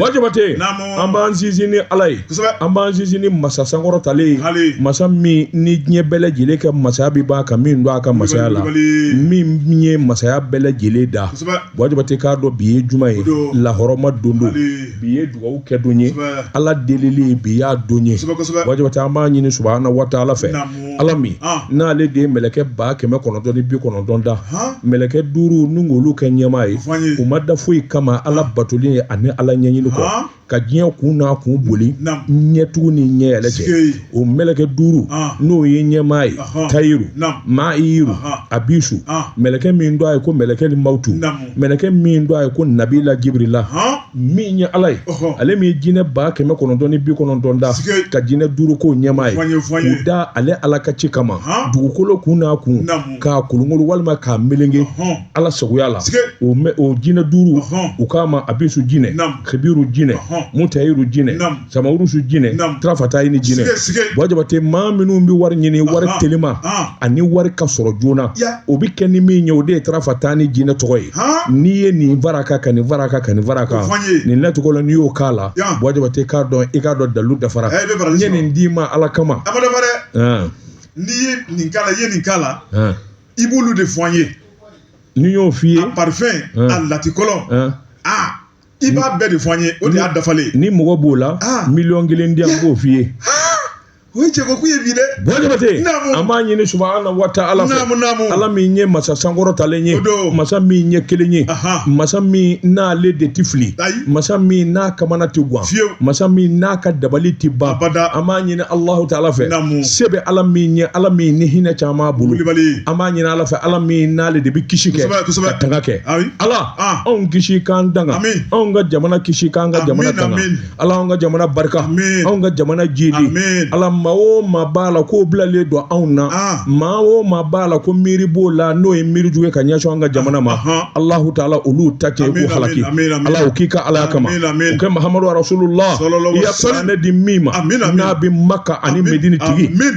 Wajabate an b'an sinsin ni ala ye an b'an sinsin ni masa sankɔrɔtalen ye masa min ni diɲɛ bɛɛ lajɛlen ka masaya bɛɛ b'a ka min don a ka masaya la min ye masaya bɛɛ lajɛlen da wajabate k'a dɔn bi ye juma ye lahɔrɔma don don bi ye dugawu kɛ don ye ala delili bi y'a don ye wajabate an b'a ɲini subahana wa taala fɛ ala min n'ale de ye mɛlɛkɛ ba kɛmɛ kɔnɔntɔn ni bi kɔnɔntɔn da mɛlɛkɛ duuru ni olu kɛ ɲɛmaa ye u ma da foyi kama ala batoli ye ani ala ɲɛɲini kɔ ka diɲɛ kun n'a kun boli ɲɛtugu ni ɲɛyɛlɛ cɛ o mɛlɛkɛ duuru n'o ye ɲɛmaa ye tayiru ma'iru abisu mɛlɛkɛ min don a ye ko mɛlɛkɛ ni mawtu mɛlɛkɛ min don a ye ko nabila jibirila min ye ala ye ale min ye jinɛ ba kɛmɛ kɔnɔntɔn ni bi kɔnɔntɔn da ka jinɛ duuru k'o ɲɛmaa ye k'u da ale ala ka ci kama dugukolo kun n'a kun k'a kolonkolon walima k'a melenke ala sagoya la o jinɛ duuru u k'a ma abisu jinɛ kibiru jinɛ mutayiru jinɛ samawurusu jinɛ Naamu. tarafata ye ni jinɛ Sige, sige. wajabate maa minnu bɛ wari ɲini wari Ahan, telima ahan. ani wari ka sɔrɔ joona Ya. o bɛ kɛ ni min ye o de ye tarafata ni jinɛ tɔgɔ ye Han. n'i ye nin varaka ka nin varaka ka nin varaka O fɔ n ye. nin lacogo la n'i y'o k'a la Ya. wajabate k'a dɔn i k'a dɔn dalu dafara Eh, i bɛ baraji n ye sɔrɔ. nin d'i ma ala kama a ma dafa dɛ Han, n'i ye nin k'a la i ye nin k'a la han. i b'olu de fɔ an ye n'i y'o f'i ye a parifɛn Hmm. a latikɔlɔ han, a i b'a bɛɛ de fɔ an ye o de y'a dafalen ni mɔgɔ b'o la ah. miliyɔn kelen di an b'o f'i ye o ye cɛko ye bi dɛ wajabate an b'a ɲini subahana wa taala fɛ ala min ye masa sankɔrɔtalen ye masa min ye kelen ye masa min n'ale de tɛ fili masa min n'a kamana tɛ gan masa min n'a ka dabali tɛ ban an b'a ɲini alahu taala fɛ se bɛ ala min ye ala min ni hinɛ caman bolo an b'a ɲini ala fɛ ala min n'ale de bɛ kisi kɛ ka tanga kɛ ala Ah. anw kisi k'an tanga Amin. anw ka jamana kisi k'an ka Amin, jamana tanga amin. ala anw ka jamana barika Amin. anw ka jamana jidi Amin. ala maa o maa b'a la k'o bilalen don anw na Ah. maa o maa b'a la ko miiri b'o la n'o ye miiri jugu ye ka ɲɛsin an ka jamana ma Ahan. alahu taala olu ta cɛn Amin, k'u halaki amin, amin, amin. ala o k'i ka alaya kama Amin, amin. o kɛ mahamadu rasulula Sallallahu i ya alaihi wasallam. kuranɛ di min ma Amin, amin. n'a bɛ maka ani Amin, medini tigi amin.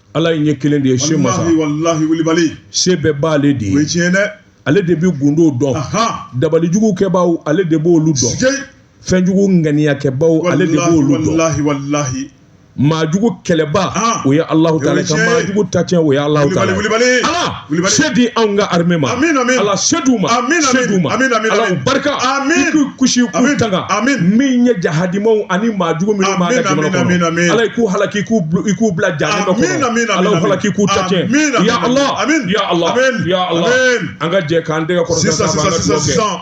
Ala ye kelen de ye se masa se bɛɛ b'ale de ye tiɲɛ dɛ ale de bɛ gundo dɔn dabalijugukɛbaw ale de b'olu dɔn fɛnjugu ŋaniyakɛbaw ale de b'olu dɔn maajugu kɛlɛba o ye alahu taala maajugu ta cɛn o ye ala se di anw ka armée ma Ala se d'u ma se d'u ma Ala u barika i k'u kisi k'u tanga min ye jahadimaw ani maa jugu minnu b'an ka jamana kɔnɔ Ala i k'u halaki i k'u bila jahannama kɔnɔ Ala u halaki i k'u ta tiɲɛ ya Ala ya Ala ya Ala an ka jɛ k'an tɛgɛ kɔrɔta ɲɔgɔn ma an ka dugawu kɛ.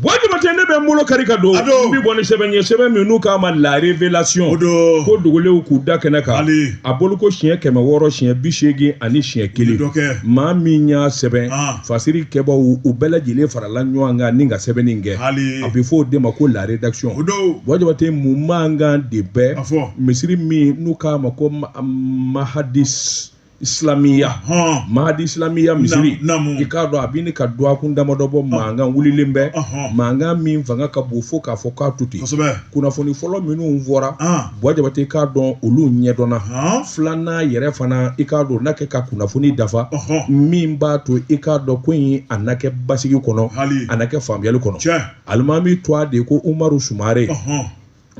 Buwa Jabate ne bɛ n bolo kari ka don n bɛ bɔ ni sɛbɛn ye sɛbɛn min n'u k'a ma la révélation ko dogolenw k'u da kɛnɛ kan a bolo ko siɲɛ kɛmɛ wɔɔrɔ siɲɛ bi seegin ani siɲɛ kelen maa min y'a sɛbɛn fasiri kɛbaaw u bɛɛ lajɛlen farala ɲɔgɔn kan ni ka sɛbɛnni kɛ a bɛ fɔ o de ma ko la rédaction Buwa Jabate mun mankan de bɛ misiri min n'u k'a ma ko mahadi islamiya hɔn mahadi islamiya misiri i k'a dɔn a bɛ ɲini ka dɔgɔkun damadɔ bɔ mankan wulilen bɛ mankan min fanga ka bon fo k'a fɔ k'a to ten kunnafoni fɔlɔ minnu fɔra buwa jabate i k'a dɔn olu ɲɛdɔnna filanan yɛrɛ fana i k'a dɔn na kɛ ka kunnafoni dafa min b'a to i k'a dɔn ko in a na kɛ basigi kɔnɔ a na kɛ faamuyali kɔnɔ alimami tɔgɔ de ko umaru sumare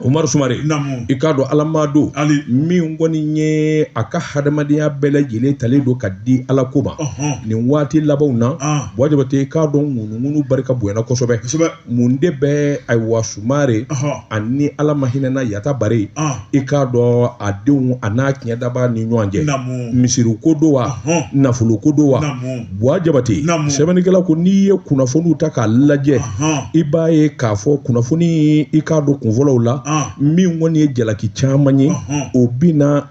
Umaru Sumare, naamu, i k'a dɔn Ala maa don, Ali, min kɔni ye a ka hadamadenya bɛɛ lajɛlen talen don ka di Ala ko ma, ɔnhɔn, nin waati labanw na, an, Buwa Jabate i k'a dɔn ŋunuŋunu barika bonyana kosɛbɛ, kosɛbɛ, mun de bɛ ayiwa Sumare, ɔnhɔn, ani Ala ma hinɛna Yata Bare, an, i k'a dɔn a denw a n'a tiɲɛtabaa ni ɲɔgɔn cɛ, naamu, misiri ko don wa, ɔnhɔn, nafolo ko don wa, naamu. buwa jabate sɛbɛnnikɛla ko n'i ye kunnafoniw ta k'a lajɛ i b'a ye k'a fɔ kunnafoni i k'a dɔn kunfɔlɔw la min kɔni ye jalaki caman ye o binna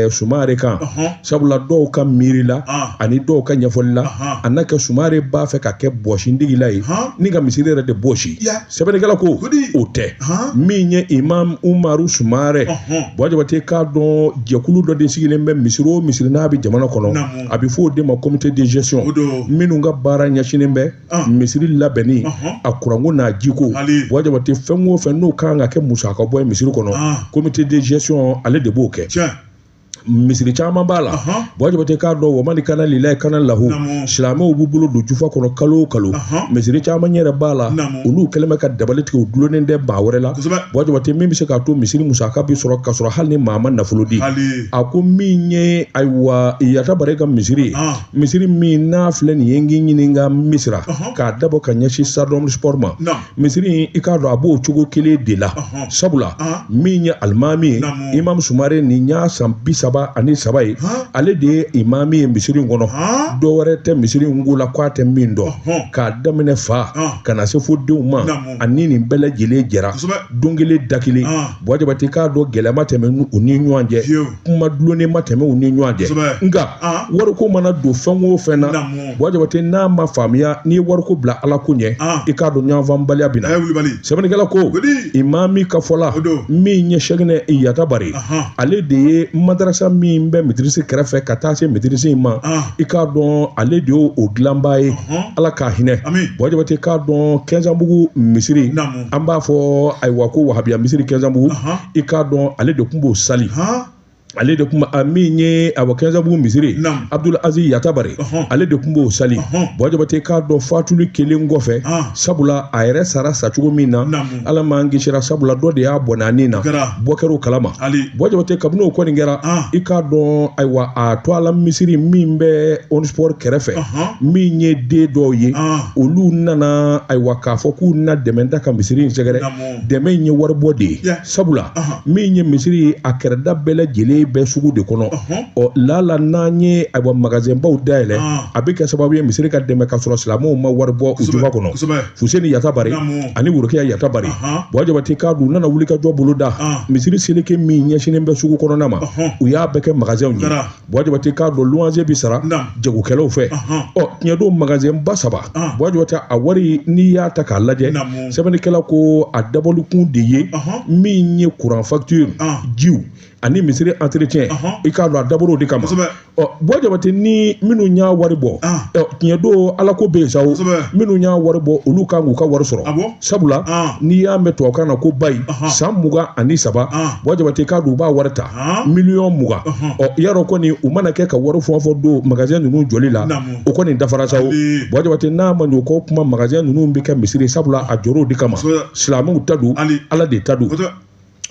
sumare kan sabula dɔw ka miiri la ani dɔw ka ɲɛfɔli la a na kɛ sumare b'a fɛ ka kɛ bɔsindigila ye ni ka misiri yɛrɛ de bɔsi sɛbɛnnikɛla ko o tɛ min ye imam umaru sumare buwa jabate k'a dɔn jɛkulu dɔ de sigilen bɛ misiri o misiri n'a bɛ jamana kɔnɔ a bɛ fɔ o de ma comité de gestion minnu ka baara ɲɛsinnen bɛ ah. misiri labɛnni uh-huh. a kuranko n'a jiko buwa jabate fɛn o fɛn n'o kan ka kɛ musaka bɔ ye misiri kɔnɔ ah. comité de gestion ale de b'o kɛ misiri caman b'a la buwa jabate k'a dɔn wamani kana lilayi kana lahu silamɛw b'u bolo don jufa kɔnɔ kalo o kalo misiri caman yɛrɛ b'a la olu kɛlen bɛ ka dabali tigɛ u dulonnen tɛ maa wɛrɛ la buwa jabate min bɛ se k'a to misiri musaka bɛ sɔrɔ ka sɔrɔ hali ni maa ma nafolo di a ko min ye ayiwa yata bare ka misiri ye ah. misiri min n'a filɛ nin ye n k'i ɲininka misira k'a dabɔ ka ɲɛsin stade omnisport ma misiri in i k'a dɔn a b'o cogo kelen de la sabula ah. min ye alimami ye imam sumare nin y'a san bi saba ani saba ye ale de ye imami ye misiri in kɔnɔ dɔ wɛrɛ tɛ misiri in ko la k'a tɛ min dɔn k'a daminɛ fa ka na se fo denw ma ani nin bɛɛ lajɛlen jɛra don kelen da kelen Buwa jabate k'a dɔn gɛlɛya ma tɛmɛ u ni ɲɔgɔn cɛ kuma dulonnen ma tɛmɛ u ni ɲɔgɔn cɛ nka wariko mana don fɛn o fɛn na buwa jabate n'a ma faamuya n'i ye wariko bila ala ko ɲɛ i k'a dɔn ɲɔgɔnfaamubaliya bɛ na sɛbɛnnikɛla ko imami ka fɔ la min ye sɛkinɛ yatabare ale de ye madarasa min bɛ mitirisi kɛrɛfɛ ka taa se mitirisi in ma i k'a dɔn ale de y'o dilanba ye ala k'a hinɛ buwa jabate k'a dɔn kɛnsanbugu misiri an b'a fɔ ayiwa ko wahabiya misiri kɛnsanbugu i k'a dɔn ale de tun b'o sali ale de tun a imami ye awa kɛnsanbugu misiri abudul azizi yatabare ale de tun b'o sali buwa jabate k'a dɔn fatuli kelen kɔfɛ sabula a yɛrɛ sara sa cogo min na ala m'an kisira sabula dɔ de y'a bɔnɛ a ni na bɔ kɛr'o kalama buwa jabate kabini o kɔni kɛra i k'a dɔn ayiwa a to ala misiri min bɛ omnisport kɛrɛfɛ min ye den dɔw ye olu nana ayiwa k'a fɔ k'u na dɛmɛ da ka misiri in sɛgɛrɛ dɛmɛ in ye waribɔ de ye sabula min ye misiri a kɛrɛda bɛɛ lajɛlen bɛ sugu de kɔnɔ ɔ lala n'an ye ayiwa magasinbaw dayɛlɛ a bɛ kɛ sababu ye misiri ka dɛmɛ ka sɔrɔ silamɛw ma wari bɔ u jufa kɔnɔ fuseni yatabare ani worokiya yatabare buwa jabate k'a dɔn u nana wuli ka jɔ bolo da misiri seleke min ɲɛsinnen bɛ sugu kɔnɔna ma u y'a bɛɛ kɛ magasinw ye Buwa jabate k'a dɔn luwanse bɛ sara jagokɛlaw fɛ ɔ tiɲɛ don magasinba saba buwa jabate a wari n'i y'a ta k'a lajɛ sɛbɛnnikɛla ko a dabɔlikun de ye min ye kuran facture jiw ani misiri entretien i k'a dɔn a dabɔr'o de kama ɔ buwa jabate ni minnu y'a wari bɔ tiɲɛ don ala ko bɛ yen sa minnu y'a wari bɔ olu kan k'u ka wari sɔrɔ sabula n'i y'a mɛn tubabukan na ko bayi san mugan ani saba buwa jabate k'a dɔn u b'a wari ta miliyɔn mugan ɔ yarɔ kɔni u mana kɛ ka wari fɛn o fɛn don magasɛn ninnu jɔli la o kɔni dafara sa o buwa jabate n'a ma ɲɛ o kɔ kuma magasɛn ninnu bɛ kɛ misiri sabula a jɔr'o de kama silamɛw ta don ala de ta don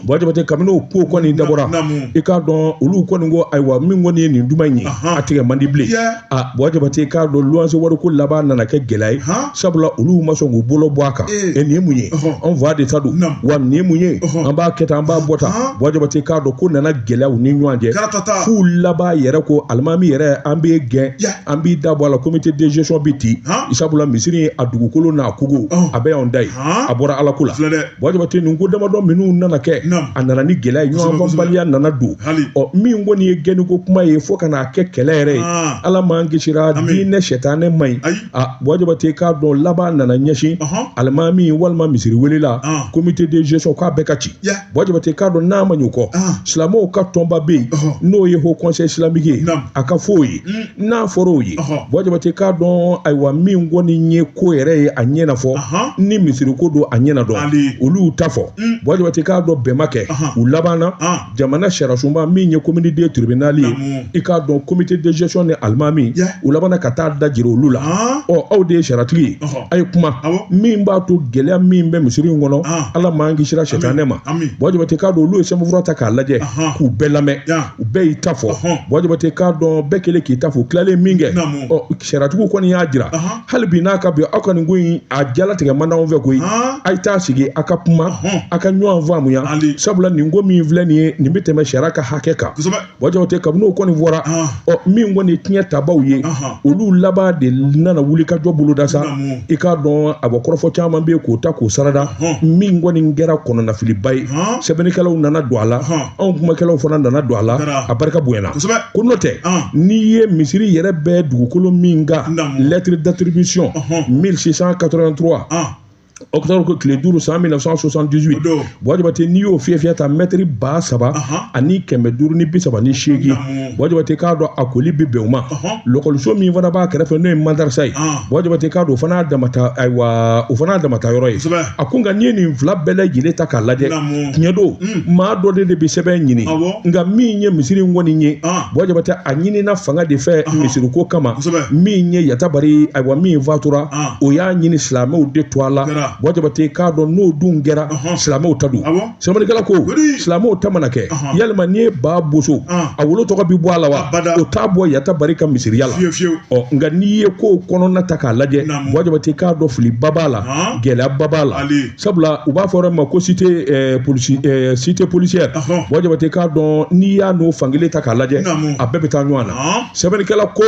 buwa jabate kabini o ko kɔni dabɔra i k'a dɔn olu kɔni ko ayiwa min kɔni ye nin duman in ye a tigɛ man di bilen a buwa jabate k'a dɔn luwanse wariko laban nana kɛ gɛlɛya ye sabula olu ma sɔn k'u bolo bɔ a kan e nin ye mun ye anw fa de ta don wa nin ye mun ye an b'a kɛ tan an b'a bɔ tan buwa jabate k'a dɔn ko nana gɛlɛya u ni ɲɔgɔn cɛ f'u laban yɛrɛ ko alimami yɛrɛ an b'i gɛn an b'i da bɔ a la comité de gestion bɛ ci sabula misiri a dugukolo n'a kogo a bɛɛ y'an ta ye a bɔra ala ko la buwa jabate nin ko damadɔ minnu nana kɛ a nana ni gɛlɛya ye ɲɔgɔnfaamubaliya nana don ɔ min kɔni ye gɛnniko kuma ye fo ka n'a kɛ kɛlɛ yɛrɛ ye ah. ala m'an kisira diinɛ sɛtanɛ man ɲi a buwa jabate k'a dɔn laban nana ɲɛsin alimami walima misiri welela ah. comité de gestion k'a bɛɛ ka ci buwa jabate k'a dɔn n'a ma ɲɛ o kɔ ah. silamɛw ka tɔnba bɛ yen n'o ye haut conseil islamique ye a ka fɔ o ye hmm. n'a fɔra o ye buwa jabate k'a dɔn ayiwa min kɔni ye ko yɛrɛ ye a ɲɛna fɔ ni misiriko don a ɲɛna dɔn olu ta fɔ mm. buwa jabate k'a dɔn bɛn ma kɛ u labanna jamana sariyasoba min ye commune deux tribunal ye i k'a dɔn comité de gestion ni alimami u labanna ka taa da jira olu la ɔ aw de ye sariyatigi ye a ye kuma min b'a to gɛlɛya min bɛ misiri in kɔnɔ ala m'an kisira sɛtanɛ ma buwa jabate k'a dɔn olu ye sɛbɛnfura ta k'a lajɛ k'u bɛɛ lamɛn u bɛɛ y'i ta fɔ buwa jabate k'a dɔn bɛɛ kelen k'i ta fɔ tilalen min kɛ ɔ sariyatigiw kɔni y'a jira hali bi n'a ka bi aw ka nin ko in a jalatigɛ man d'anw fɛ koyi a ye taa sigi a ka kuma a ka ɲɔgɔn faamuya sabula nin ko min filɛ nin ye nin bɛ tɛmɛ sariya ka hakɛ kan buwa jabate kabini o kɔni fɔra ɔ min kɔni ye tiɲɛ tabaw ye olu laban de nana wulikajɔ boloda sa i k'a dɔn a bɔ kɔrɔfɔ caman bɛ yen k'o ta k'o sarada min kɔni kɛra kɔnɔnafiliba ye sɛbɛnnikɛlaw nana don a la anw kumakɛlaw fana nana don a la a barika bonyana ko n'o tɛ n'i ye misiri yɛrɛ bɛ dugukolo min kan lettre d'attribution 1683 octobre tile duuru san 1978 buwa jabate n'i y'o fiyɛ fiyɛ ta mɛtiri ba saba ani kɛmɛ duuru ni bi saba ni seegin buwa jabate k'a dɔn a koli bɛ bɛn o ma lɔkɔliso min fana b'a kɛrɛfɛ n'o ye madarasa ye buwa jabate k'a dɔn o fana damata ayiwa o fana damata yɔrɔ ye a ko nka n'i ye nin fila bɛɛ lajɛlen ta k'a lajɛ tiɲɛ don maa dɔ de de bɛ sɛbɛn ɲini nka min ye misiri in kɔni ye buwa jabate a ɲinina fanga de fɛ misiriko kama min ye yatabari ayiwa min fatura o y'a ɲini silamɛw de tɔgɔ la buwa jabate k'a dɔn n'o dun kɛra silamɛw ta don sɛbɛnnikɛla ko silamɛw ta mana kɛ yalima n'i ye ba boso a wolo tɔgɔ bɛ bɔ a la wa o t'a bɔ yatabari ka misiriya la ɔ nka n'i ye ko kɔnɔna ta k'a lajɛ buwa jabate k'a dɔn filiba b'a la gɛlɛyaba b'a la sabula u b'a fɔ yɔrɔ ma ko cité policière buwa jabate k'a dɔn n'i y'a n'o fankelen ta k'a lajɛ a bɛɛ bɛ taa ɲɔgɔn na sɛbɛnnikɛla ko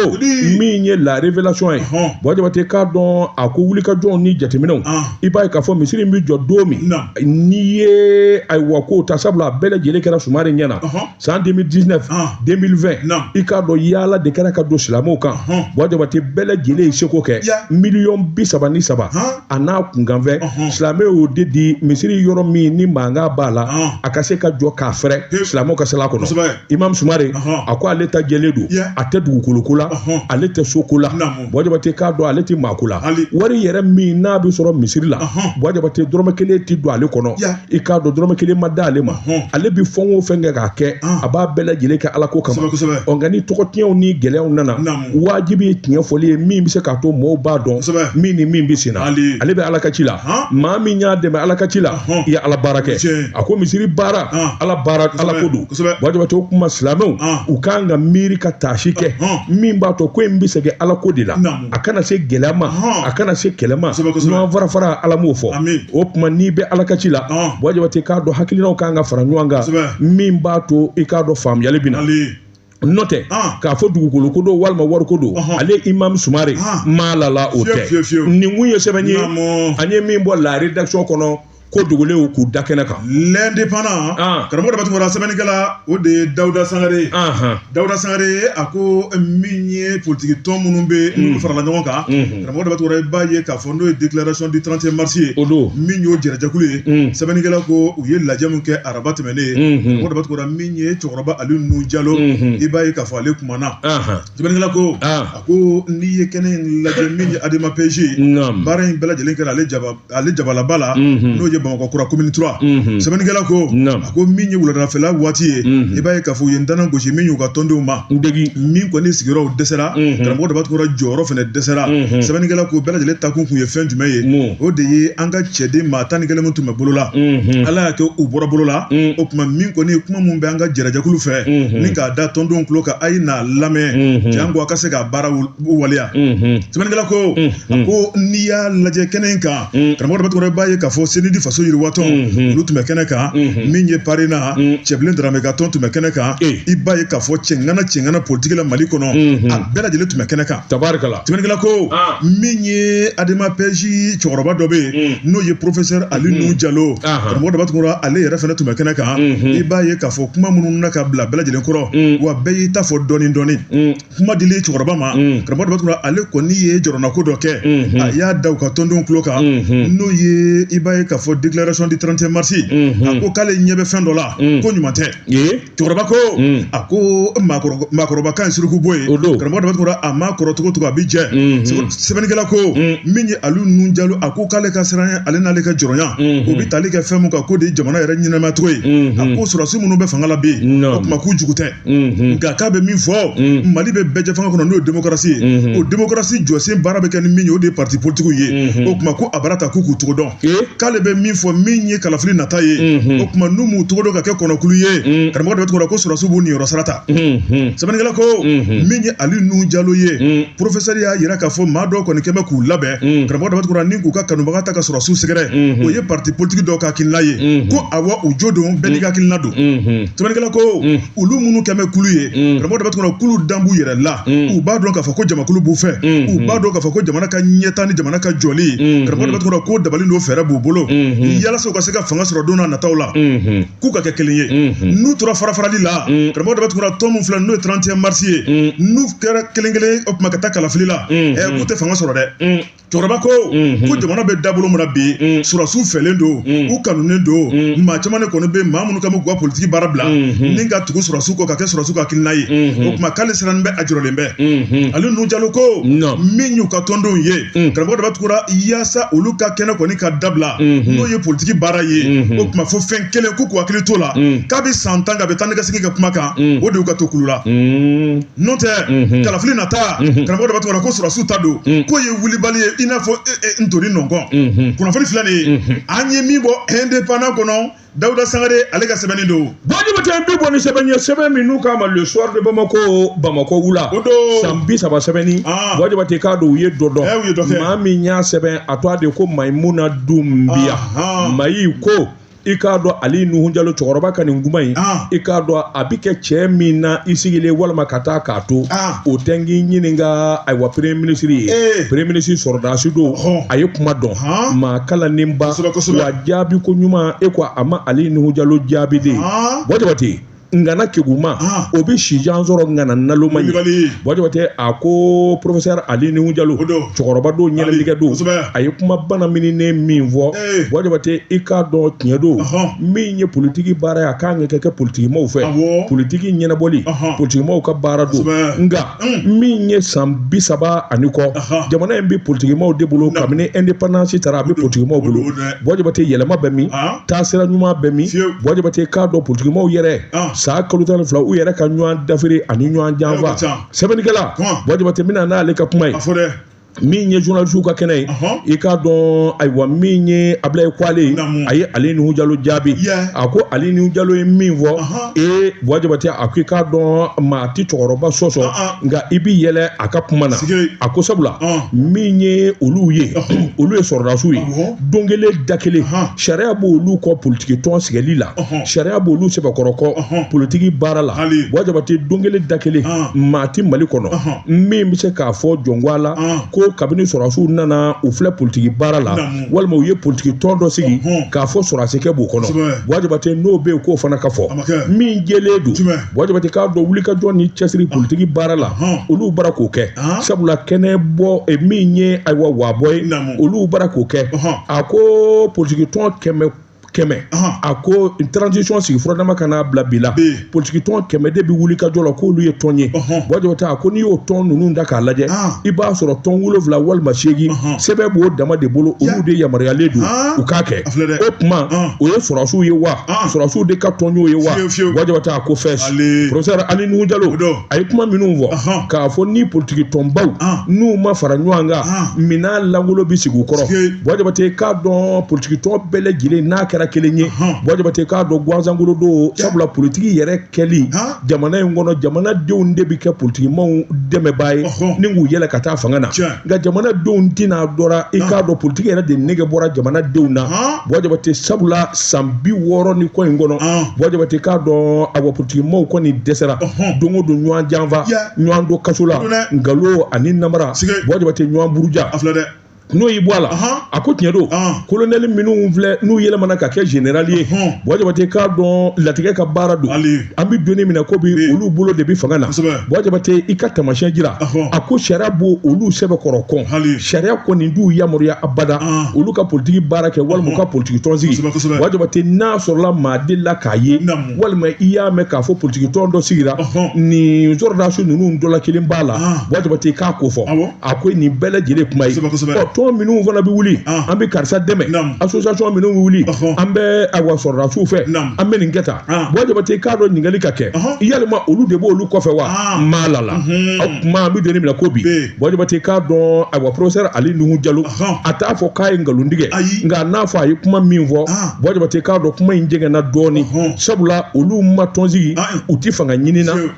min ye la révélation ye buwa jabate k'a dɔn a ko wulikajɔw ni jateminɛw i b'a ye k'a fɔ misiri in bɛ jɔ don min n'i ye ayiwa ko ta sabula a bɛɛ lajɛlen kɛra sumare ɲɛ na san 2019 2020 i k'a dɔn yaala de kɛra ka don silamɛw kan buwa jabate bɛɛ lajɛlen ye seko kɛ miliyɔn bi saba ni saba a n'a kunkanfɛn silamɛw y'o de di misiri yɔrɔ min ni mankan b'a la a ka se ka jɔ k'a fɛrɛ silamɛw ka sel'a kɔnɔ imam sumare a ko ale ta jɛlen don a tɛ dugukoloko la ale tɛ soko la buwa jabate i k'a dɔn ale tɛ maako la wari yɛrɛ min n'a bɛ sɔrɔ misiri la buwa jabate dɔrɔmɛ kelen tɛ don ale kɔnɔ i k'a dɔn dɔrɔmɛ kelen ma da ale ma ale bɛ fɛn o fɛn kɛ k'a kɛ a b'a bɛɛ lajɛlen kɛ ala ko kama ɔ nka ni tɔgɔtiɲɛw ni gɛlɛyaw nana wajibi ye tiɲɛ fɔli ye min bɛ se k'a to mɔɔw b'a dɔn min ni min bɛ senna ale bɛ ala ka ci la maa min y'a dɛmɛ ala ka ci la i ye ala baara kɛ a ko misiri baara ala baara ala ko don Buwa jabate o kuma silamɛw u ka kan ka miiri ka taasi kɛ min b'a to ko in bɛ segin ala ko de la a kana se gɛlɛya ma a kana se kɛlɛ ma ɲɔgɔn farafara ala m'o fɔ o tuma n'i bɛ ala ka ci la buwa jabate k'a dɔn hakilinaw ka kan ka fara ɲɔgɔn kan min b'a to i k'a dɔn faamuyali bɛ na n'o tɛ k'a fɔ dugukolo ko don walima wari ko don ale imamu sumare ma l'a la o tɛ nin kun ye sɛbɛn ye an ye min bɔ la rédaction kɔnɔ ko dogolenw k'u da kɛnɛ kan l'indépendant ah. karamɔgɔ daba tunkara sɛbɛnnikɛla o de ye dawuda sangare ye ah, ah. dawuda sangare a ko min ye politiki tɔn minnu bɛ mm. n'olu farala ɲɔgɔn kan mm-hmm. karamɔgɔ daba tunkara i b'a ye k'a fɔ n'o ye déclaration du 31 mars ye o don min y'o jɛrɛjɛkulu ye mm. sɛbɛnnikɛla ko u ye lajɛ min kɛ araba tɛmɛnen ye mm-hmm. karamɔgɔ daba tunkara min ye cɛkɔrɔba ali nuhun jalo mm-hmm. i b'a ye k'a fɔ ale kumana sɛbɛnnikɛla ko a ko n'i ye kɛnɛ in lajɛ min ye adema PASJ baara in bɛɛ lajɛlen kɛra ale jaba ale jabalaba la mhm. n'o ye bamakɔ kura komini 3 mhm. sɛbɛnnikɛla ko a ko min ye wuladafɛla waati ye mhm. i b'a ye k'a fɔ u ye ntanan gosi min y'u ka tɔndenw ma min kɔni sigiyɔrɔw dɛsɛra karamɔgɔ daba tunkara jɔyɔrɔ fana dɛsɛra sɛbɛnnikɛla ko bɛɛ lajɛlen taakun kun ye fɛn jumɛn ye o de ye an ka cɛden maa tan ni kelen min tun bɛ bolo la ala y'a kɛ u bɔra bolo la o tuma min kɔni ye kuma min bɛ an ka jɛrɛjɛkulu fɛ ni k'a da tɔndenw tulo kan a ye n'a lamɛn janko a ka se k'a baara waleya sɛbɛnnikɛla ko a ko n'i y'a lajɛ kɛnɛ in kan karamɔgɔ daba tunkara i b'a ye k'a fɔ CNID faso yiriwa tɔn olu tun bɛ kɛnɛ kan min ye parena cɛbilen darame ka tɔn tun bɛ kɛnɛ kan i b'a ye k'a fɔ cɛŋana cɛŋana politigi la mali kɔnɔ a bɛɛ lajɛlen tun bɛ kɛnɛ kan tari sɛbɛnnikɛla ko min ye adema PASJ cɛkɔrɔba dɔ bɛ yen n'o ye professeur ali nuhun jalo karamɔgɔ daba tunkara ale yɛrɛ fana tun bɛ kɛnɛ kan i b'a ye k'a fɔ kuma minnu na ka bila bɛɛ lajɛlen kɔrɔ wa bɛɛ y'i ta fɔ dɔɔnin dɔɔnin kuma dili cɛkɔrɔba ma mm. karamɔgɔ daba tunkara ale kɔni ye jɔrɔnanko dɔ kɛ mm-hmm. a y'a da u ka tɔndenw tulo kan mm-hmm. n'o ye i b'a ye k'a fɔ déclaration du 31 mars mm-hmm. a ko k'ale ɲɛ bɛ fɛn dɔ la mm. ko ɲuman tɛ cɛkɔrɔba ko mm. a ko maakɔrɔba kan ye surukubo ye karamɔgɔ daba tunkara a maa kɔrɔ cogo cogo a bɛ jɛ sɛbɛnnikɛla ko min ye ali nuhun jalo a ko k'ale ka siranya ale n'ale ka jɔrɔnya o bɛ tali kɛ fɛn mun kan k'o de ye jamana yɛrɛ ɲɛnamaya cogo ye a ko sɔrɔsi minnu bɛ fanga la bi o tuma k'u jugu tɛ nka k'a bɛ min fɔ mali bɛ bɛɛjɛfanga kɔnɔ n'o ye démocratie ye o démocratie jɔsen baara bɛ kɛ ni min ye o de ye pati politigiw ye o tuma ko a bara ta k'u k'u cogo dɔn k'ale bɛ min fɔ min ye kalafili nata ye o tuma n'u m'u cogo dɔn ka kɛ kɔnɔkulu ye karamɔgɔ daba tunkara ko sɔrɔsiw b'u niyɔrɔ sara ta sɛbɛnnikɛla ko min ye ali nuhun jalo ye professeur y'a jira k'a fɔ maa dɔw kɔni kɛmɛ bɛ k'u labɛn karamɔgɔ daba tunkara ni k'u ka kanubaga ta ka sɔrɔsiw sɛgɛrɛ o ye pati politigi dɔw ka hakila ye ko awa u jo don bɛɛ n'i hakila don sɛbɛnnikɛla ko mm. olu minnu kɛlen bɛ kulu ye mm. karamɔgɔ daba tunkara k'olu dalen b'u yɛrɛ la mm. u b'a dɔn k'a fɔ ko jamakulu b'u fɛ u b'a dɔn k'a fɔ ko jamana ka ɲɛtaa ni jamana ka jɔli karamɔgɔ daba tunkara ko dabali don fɛɛrɛ b'u bolo yalasa u ka se ka fanga sɔrɔ don n'a nataw la k'u ka kɛ kelen ye n'u tora farafarali la karamɔgɔ daba tunkara tɔn min filɛ n'o ye 31 mars ye n'u kɛra kelen kelen o tuma ka taa kalafili la k'u tɛ fanga sɔrɔ dɛ cɛkɔrɔba ko mhm. ko jamana bɛ dabolo min na bi mhm. sɔrɔsiw fɛlen don mhm. u kanunen don maa caman de kɔni bɛ maa minnu kan bɛ k'u ka politiki baara bila ni ka tugu sɔrɔsiw kɔ ka kɛ sɔrɔsiw ka hakilina ye o tuma k'ale sirannen bɛ a jɔrɔlen bɛ ali nuhu jalo ko min y'u ka tɔndenw ye karamɔgɔ daba tunkara yaasa olu ka kɛnɛ kɔni ka dabila n'o ye politiki baara ye o tuma fo fɛn kelen k'u k'u hakili t'o la kabi san tan k'a bɛ taa ni ka segin ka kuma kan o de y'u ka to kulu la n'o tɛ kalafili nata karamɔgɔ daba tunkara ko sɔrɔsiw ta don k'o ye wulibali ye i n'a fɔ ntori nɔnkɔn kunnafoni filɛ nin ye an ye min bɔ indépendant kɔnɔ dawuda sangare ale ka sɛbɛnni don buwa jabate bi bɔ ni sɛbɛn ye sɛbɛn min n'u k'a ma le soir de bamako bamako wula san bi saba sɛbɛnni buwa jabate k'a dɔn u ye dɔ dɔn maa min y'a sɛbɛn a tɔgɔ de ko mayimuna dunbiya mayi ko i k'a dɔn ali nuhu jalo cɛkɔrɔba ka nin kuma in ah. i k'a dɔn a bi kɛ cogo min na i sigilen walima ka taa k'a to ah. o tɛ n k'i ɲininka ayiwa premier ministre ye eh. premier ministre sɔrɔdasi don a ye kuma dɔn maa kalannenba wa jaabi ko ɲuman e ko a ma ali nuhu jalo jaabi dɛ buwa jabate ngana keguma ah. o bɛ sijan sɔrɔ ngana naloma ye buwa jabate a ko professeur ali nuhu jalo cɛkɔrɔba don ɲɛnɛlikɛ don a ye kuma bana mininen min fɔ eh. buwa jabate i k'a dɔn tiɲɛ don min ye politiki baara ye a ka kan ka kɛ politikimaw fɛ politiki ɲɛnabɔli politikimaw ka baara don nka Mm. min ye san bi saba ani kɔ jamana in bɛ politikimaw de bolo kabini indépendance tara a bɛ politikimaw bolo Buwa Jabate yɛlɛma bɛ min taasira ɲuman bɛ min Buwa Jabate k'a dɔn politikimaw yɛrɛ san kalo tan ni fila u yɛrɛ ka ɲɔgɔn dafiri ani ɲɔgɔn janfa sɛbɛnnikɛla Buwa Jabate n bɛ na n'ale ka kuma ye. min ye journalisiw ka kɛnɛ ye i k'a dɔn ayiwa min ye Abilaye Kwale ye a ye Ali Nuhu Jalo jaabi a ko Ali Nuhu Jalo ye min fɔ ee Buwa Jabate a ko i k'a dɔn maa tɛ cɛkɔrɔba sɔsɔ nka i bɛ yɛlɛ a ka kuma na a ko sabula min ye olu ye olu ye sɔrɔdasiw ye don kelen da kelen sariya b'olu kɔn politiki tɔn sigili la sariya b'olu sɛbɛkɔrɔ kɔn politiki baara la Buwa Jabate don kelen da kelen maa tɛ Mali kɔnɔ min bɛ se k'a fɔ jɔn ko ala ah. ko kabini sɔrɔdasiw nana u filɛ politiki baara la walima u ye politiki tɔn dɔ sigi k'a fɔ sɔrɔdasikɛ b'o kɔnɔ buwa jabate n'o bɛ yen k'o fana ka fɔ min jɛlen don buwa jabate k'a dɔn wulikajɔ ni cɛsiri ah. politiki baara la ah. olu bara k'o kɛ sabula kɛnɛ bɔ eh, min ye ayiwa waabɔ ye olu bara k'o kɛ a ko politiki tɔn kɛmɛ kɛmɛ a ko transition sigi furadama kana bila bi la politiki tɔn kɛmɛ de bɛ wuli ka jɔ la k'olu ye tɔn ye buwa jabate a ko n'i y'o tɔn ninnu da k'a lajɛ i b'a sɔrɔ tɔn wolonwula walima seegin sɛbɛn b'o dama de bolo olu de yamaruyalen don u k'a kɛ o tuma o ye sɔrɔdasiw ye wa sɔrɔdasiw de ka tɔn y'o ye wa buwa jabate a ko fɛs professeur ali nuhu jalo a ye kuma minnu fɔ k'a fɔ ni politiki tɔnbaw n'u ma fara ɲɔgɔn kan minan lankolon bɛ sigi u kɔrɔ buwa jabate k'a dɔn politikitɔn bɛɛ lajɛlen n'a kɛra kelen ye buwa jabate k'a dɔn gansan kolon don sabula politiki yɛrɛ kɛli jamana in kɔnɔ jamanadenw de bɛ kɛ politikimaaw dɛmɛbaa ye ni k'u yɛlɛn ka taa fanga na nka jamanadenw tɛna dɔra i k'a dɔn politiki yɛrɛ de nege bɔra jamanadenw na buwa jabate sabula san bi wɔɔrɔ ni kɔ in kɔnɔ buwa jabate k'a dɔn awa politikimaaw kɔni dɛsɛra don o don ɲɔgɔn janfa ɲɔgɔn don kaso la nkalon ani namara buwa jabate ɲɔgɔn buruja n'i y'i bɔ a la a ko tiɲɛ don kolonɛli minnu filɛ n'u yɛlɛmana ka kɛ generali ye buwa jabate k'a dɔn latigɛ ka baara don an bɛ don min na ko bi olu bolo de bɛ fanga na buwa jabate i ka tamasiyɛn jira a ko sariya b'olu sɛbɛkɔrɔ kɔn sariya kɔni t'u yamaruya abada olu ka politiki baara kɛ walima u ka politiki tɔn sigi buwa jabate n'a sɔrɔla maa delila k'a ye walima i y'a mɛn k'a fɔ politiki tɔn dɔ sigira nin sɔrɔdasi ninnu dɔ la kelen b'a la buwa jabate k'a ko fɔ a ko nin bɛɛ lajɛlen kuma ye ɔ tɔn minnu fana bɛ wuli an bɛ karisa dɛmɛ association minnu bɛ wuli an bɛ awa sɔrɔdasiw fɛ an bɛ nin kɛ tan buwa jabate k'a dɔn ɲininkali ka kɛ yalima olu de b'olu kɔfɛ wa maa lala a kan an bɛ don min na ko bi buwa jabate k'a dɔn awa professeur ali nuhu jalo a t'a fɔ k'a ye nkalon tigɛ nka n'a fɔ a ye kuma min fɔ buwa jabate k'a dɔn kuma in jɛngɛnna dɔɔni sabula olu ma tɔn sigi u tɛ fanga ɲini na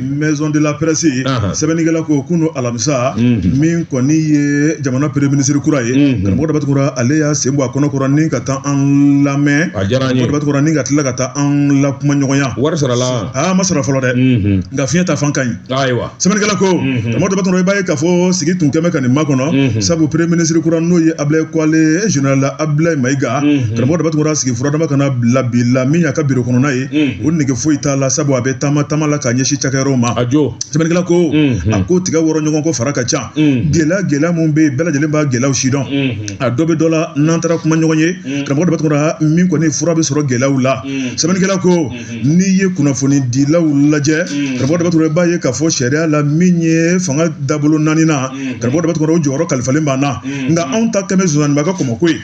maison de la presse sɛbɛnnikɛla ko kunu alamisa mhm. min kɔni ye jamana premier ministre kura ye mhm. karamɔgɔ daba tunkara ale y'a sen bɔ a kɔnɔ kɔrɔ ni ka taa an lamɛn daba tunkara ni ka tila ka taa an la kuma ɲɔgɔnya wari sarala a ma sara fɔlɔ dɛ mhm. nka fiɲɛ ta fan ka ɲi ayiwa sɛbɛnnikɛla ko karamɔgɔ daba tunkara i b'a ye k'a fɔ sigi tun kɛlen ka nin makɔnɔ sabu premier ministre kura n'o ye ablaye kɔle général ablaye mayiga karamɔgɔ daba tunkara sigi furadama kana bila bi la min y'a ka biro kɔnɔna ye o nege foyi t'a la sabu a bɛ taama taama la ka ɲɛsin cakɛyɔrɔw ma a jɔ sɛbɛnnikɛla ko a ko tigɛ wɔrɔ ɲɔgɔn kɔ fara ka ca gɛlɛya gɛlɛya minnu bɛ yen bɛɛ lajɛlen b'a gɛlɛyaw sidɔn a dɔ bɛ dɔ la n'an taara kuma ɲɔgɔn ye karamɔgɔ daba tunkara min kɔni fura bɛ sɔrɔ gɛlɛyaw la sɛbɛnnikɛla ko n'i ye kunnafoni dilaw lajɛ karamɔgɔ daba tunkara i b'a ye k'a fɔ sariya la min ye fanga dabolo naaninan karamɔgɔ daba tunkara o jɔyɔrɔ kalifalen b'an na nka anw ta kɛlen zonzanninba ka kɔmɔko ye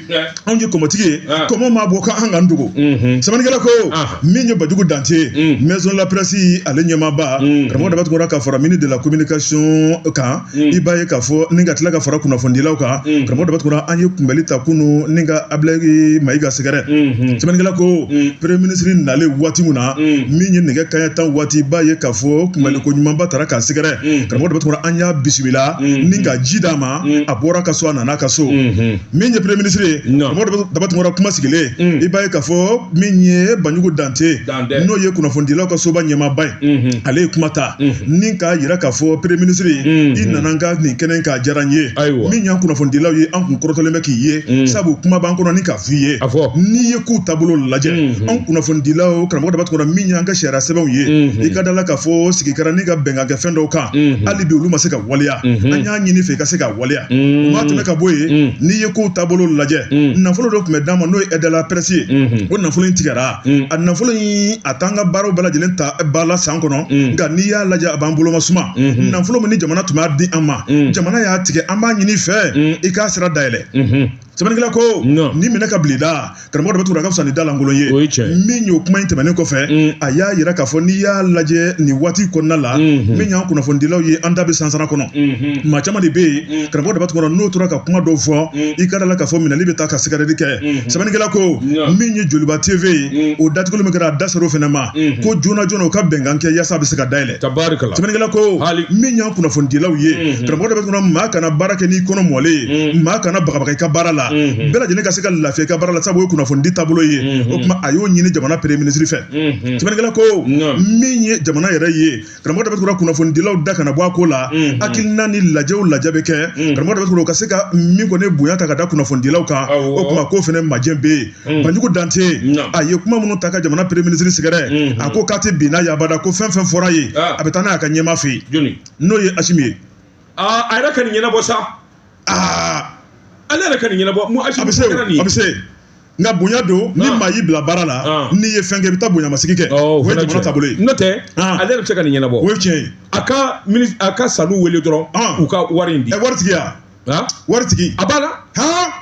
anw ye kɔmɔtigi ye ah. kɔmɔ maa bɔ k'an ka dogo mhm. sɛbɛnnikɛla ko ah. min ye banjugu dante ye mm. maison de la presse ale ɲɛmaaba mm. karamɔgɔ daba tunkara ka fara ministre de la communication kan mm. i b'a ye k'a fɔ ni ka tila ka fara kunnafonidilaw kan karamɔgɔ daba tunkara an ye kunbɛli ta kunu ni ka abulayi mayiga sɛgɛrɛ mhm. sɛbɛnnikɛla ko premier ministre nalen waati min na min ye nɛgɛ kanɲɛ tan waati i b'a ye k'a fɔ kunbɛli ko ɲumanba tara k'a sɛgɛrɛ karamɔgɔ daba tunkara an y'a bisimila ni ka ji d'a ma a bɔra ka so a nana ka so mhm. min ye premier ministre ye karamɔgɔ Daba Tunkara kuma sigilen mm. i b'a ye k'a fɔ min ye Banjugu Dante n'o ye kunnafonidilaw ka soba ɲɛmaaba ye mm-hmm. ale ye kuma ta mm-hmm. ni k'a jira k'a fɔ premier ministre ye mm-hmm. i nana n ka nin kɛnɛ k'a diyara n ye min y'an kunnafonidilaw ye an kun kɔrɔtalen bɛ k'i ye mm. sabu kuma b'an kɔnɔ ni k'a f'i ye n'i ye kow taabolo lajɛ an kunnafonidilaw karamɔgɔ Daba Tunkara min y'an ka sariya sɛbɛnw ye i ka da la k'a fɔ sigi kɛra ni ka bɛnkan kɛ fɛn dɔw kan hali bi olu ma se ka waleya an y'a ɲini i fɛ i ka se ka waleya o maa tɛmɛ ka bɔ yen n'i ye kow taabolo lajɛ nafolo dɔ tun bɛ d'an ma n'o ye aide à la presse ye o nafolo in tigɛra a nafolo in a t'an ka baaraw bɛɛ lajɛlen ta ba la san kɔnɔ nka n'i y'a lajɛ a b'an bolo ma suma nafolo min ni jamana tun b'a di an ma jamana y'a tigɛ an b'a ɲini i fɛ i k'a sira dayɛlɛ sɛbɛnnikɛla ko nin minɛ k'a bil'i da karamɔgɔ daba tunkara ka fisa ni da lankolon ye o ye tiɲɛ ye min y'o kuma in tɛmɛnen kɔfɛ a y'a yira k'a fɔ n'i y'a lajɛ nin waati kɔnɔna la min y'an kunnafonidilaw ye an da bɛ sansara kɔnɔ maa caman de bɛ yen karamɔgɔ daba tunkara n'o tora ka kuma dɔw fɔ i ka da la k'a fɔ minɛli bɛ taa ka sɛgɛrɛli kɛ sɛbɛnnikɛla ko min ye joliba tv ye o datuguli min kɛra a da ser'o fana ma ko joona joona u ka bɛnkan kɛ yaasa a bɛ se ka dayɛlɛ tabarikala sɛbɛnnikɛla ko ah. min y'an kunnafonidilaw ye mhm. karamɔgɔ daba tunkara maa kana baara kɛ n'i kɔnɔ mɔlen ye mhm. maa kana bagabaga i ka baara la mhm. bɛɛ lajɛlen ka se ka lafiya i ka baara la sabu o ye kunnafonidi taabolo ye o tuma a y'o ɲini jamana premier ministre fɛ sɛbɛnnikɛla ko min ye jamana yɛrɛ ye karamɔgɔ daba tunkara kunnafonidilaw da kana bɔ a ko la hakilina ni lajɛ o lajɛ bɛ kɛ karamɔgɔ daba tunkara u ka se ka min kɔni bonya ta ka da kunnafonidilaw kan o tuma k'o fana majɛ bɛ yen Mm. banjugu dante a ye kuma minnu ta ka jamana premier ministre sɛgɛrɛ mm-hmm. a ko k'a tɛ bin n'a ye abada ko fɛn fɛn fɔra ye ah. a bɛ taa n'a y'a ka ɲɛmaa fɛ yen n'o ye asimi ye ah, a yɛrɛ ka nin ɲɛnabɔ sa ah. ale yɛrɛ ka nin ɲɛnabɔ mu asimi kɛra nin ye a bɛ se nka bonya don ni maa y'i bila baara la n'i ye fɛn kɛ i bɛ taa bonyamasegin kɛ oh, o ye jamana taabolo ye n'o tɛ ale yɛrɛ bɛ se ka nin ɲɛnabɔ o ye tiɲɛ ye a ka a ka sanu wele dɔrɔn u ka wari in di wari tigiya waritigi a b'a la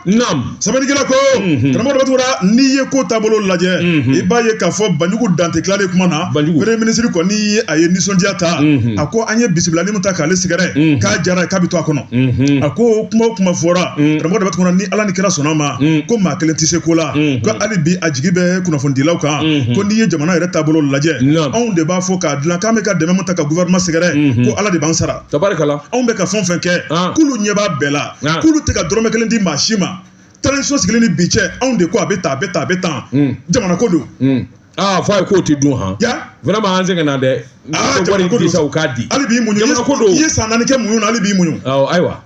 naamu sɛbɛnnikɛla ko mhm. karamɔgɔ daba tunkara n'i ye ko taabolo lajɛ mhm. i b'a ye k'a fɔ banjugu dante tilalen kuma na premier ministre kɔni ye a ye nisɔndiya ta mhm. a ko an ye bisimilali min ta k'ale sɛgɛrɛ k'a diyara k'a bɛ to a kɔnɔ a ko kuma o kuma fɔra karamɔgɔ daba tunkara ni ala ni kira sɔnn'a ma ko maa kelen tɛ se ko la ko hali bi a jigi bɛ kunnafonidilaw kan ko n'i ye jamana yɛrɛ taabolo lajɛ anw de b'a fɔ k'a dilan k'an bɛ ka dɛmɛ min ta ka gouvernement sɛgɛrɛ ko ala de b'an sara tabarikala anw bɛ ka fɛn fɛn kɛ k'olu ɲɛ b'a bɛɛ la k'olu tɛ ka dɔrɔmɛ kelen di maa si ma transition sigilen ni bi cɛ anw de ko a bɛ tan a bɛ tan a bɛ tan jamana ko don aa fɔ a ye k'o tɛ dun han vraiment an sɛgɛnna dɛ wari di sa u k'a di hali b'i muɲu jamana ko don i ye san naani kɛ muɲu na hali b'i muɲu ayiwa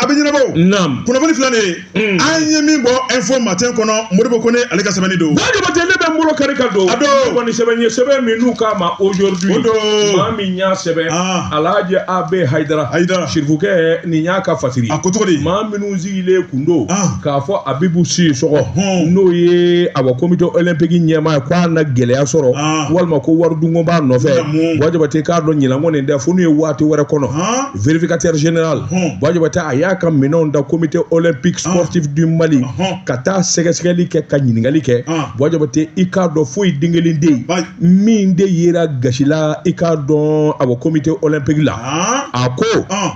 a bɛ ɲɛnabɔ o naam kunnafoni filɛ nin ye Hmm. an ye min bɔ info matin kɔnɔ modibo kone ale ka sɛbɛnni don buwa jabate ne bɛ n bolo kari ka don a don ne kɔni sɛbɛn ye sɛbɛn min n'u k'a ma aujourd'hui o don maa min y'a sɛbɛn ah. alhaji ab hayidara hayidara sirifukɛ nin y'a ka fasiri a ko cogo di maa minnu sigilen kun don ah. k'a fɔ abibu sisɔgɔ n'o ye awa komite olympique ɲɛmaa ye k'a na gɛlɛya sɔrɔ ah. walima ko wari dunko b'a nɔfɛ buwa jabate k'a dɔn ɲinan kɔni tɛ fo n'u ye waati wɛrɛ kɔnɔ vérificateur général Buwa Jabate a y'a ka minɛnw da comité olympique sportif du Mali ka taa sɛgɛsɛgɛli kɛ ka ɲininkali kɛ Buwa Jabate i k'a dɔn foyi den kelen tɛ yen min de yera gasi la i k'a dɔn awa comité olympique la a ko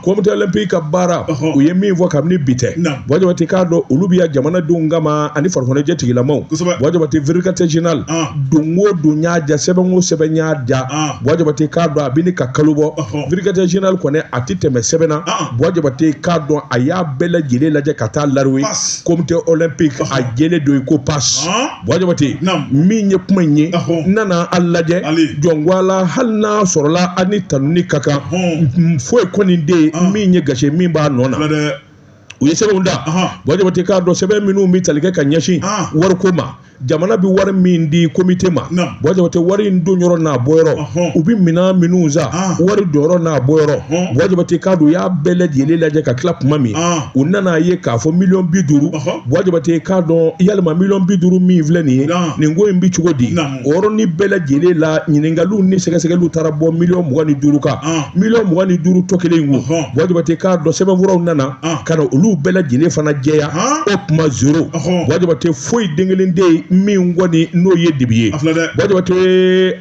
comité olympique ka baara u ye min fɔ kabini bi tɛ Buwa Jabate k'a dɔn olu bɛ yan jamanadenw kama ani farikoloɲɛnajɛ tigilamaw Buwa Jabate vérificateur général don o don n y'a ja sɛbɛn o sɛbɛn n y'a ja Buwa Jabate k'a dɔn a bɛ ɲini ka kalo bɔ vérificateur général kɔni a tɛ tɛmɛ sɛbɛn na Buwa Jabate k'a dɔn a y'a bɛɛ lajɛlen lajɛ ka taa l'arrivée comité olympique a jɛlen don i ko pas Buwa Jabate min ye kuma in ye n nana a lajɛ jɔnwala hali n'a sɔrɔla a ni tanuni ka kan foyi kɔni tɛ yen min ye gasi min b'a nɔ na u ye sɛbɛnw da buwa jabate k'a dɔn sɛbɛn minnu bɛ tali kɛ ka ɲɛsin wariko ma jamana bɛ wari min di komite ma buwa jabate wari in don yɔrɔ n'a bɔ yɔrɔ u bɛ minɛn minnu san wari don yɔrɔ n'a bɔ yɔrɔ buwa jabate k'a dɔn u y'a bɛɛ lajɛlen lajɛ ka tila tuma min u nana a ye k'a fɔ miliyɔn bi duuru buwa jabate k'a dɔn yalima miliyɔn bi duuru min filɛ nin ye nin ko in bɛ cogo di O yɔrɔnin bɛɛ lajɛlen la ɲininkaliw ni sɛgɛsɛgɛliw taara bɔ miliyɔn mugan ni duuru kan miliyɔn mugan ni duuru tɔ kelen in ko buwa jabate k'a dɔn sɛbɛnfuraw nana ka na olu bɛɛ lajɛlen fana jɛya o tuma zéro buwa jabate foyi den kelen tɛ yen min kɔni n'o ye dibi ye buwa jabate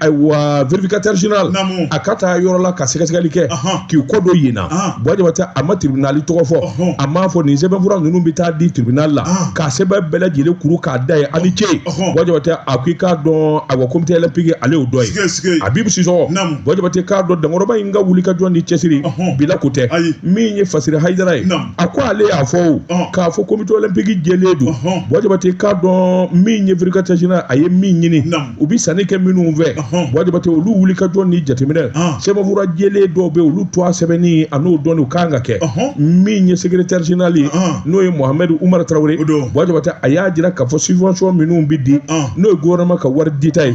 ayiwa vérificateur général a ka taa yɔrɔ la ka sɛgɛsɛgɛli kɛ k'i kɔ don yen na buwa jabate a ma tiribinali tɔgɔ fɔ a m'a fɔ nin sɛbɛnfura ninnu bɛ taa di tiribinali la ka sɛbɛn bɛɛ lajɛlen kuru k'a da yen a ni ce buwa jabate a ko i k'a dɔn awa komite olympique ale y'o dɔ ye abibu sisɔgɔ buwa jabate k'a dɔn dankɔrɔba in ka wuli ka jɔ ni cɛsiri bi la ko tɛ min ye fasiri hayidara ye a ko ale y'a fɔ o k'a fɔ komite olympique jɛlen don buwa jabate k'a dɔn min ye vérificateur général a ye min ɲini u bi sanni kɛ minnu fɛ buwa jabate olu wuli ka jɔ ni jateminɛ sɛbɛnfura jɛlen dɔw bɛ olu to a sɛbɛnni a n'o dɔnni u kan ka kɛ min ye secrétaire général ye n'o ye muhamadu umaru tarawele buwa jabate a y'a jira k'a fɔ subvention minnu bɛ di n'o ye gouvernement ka wari dita ye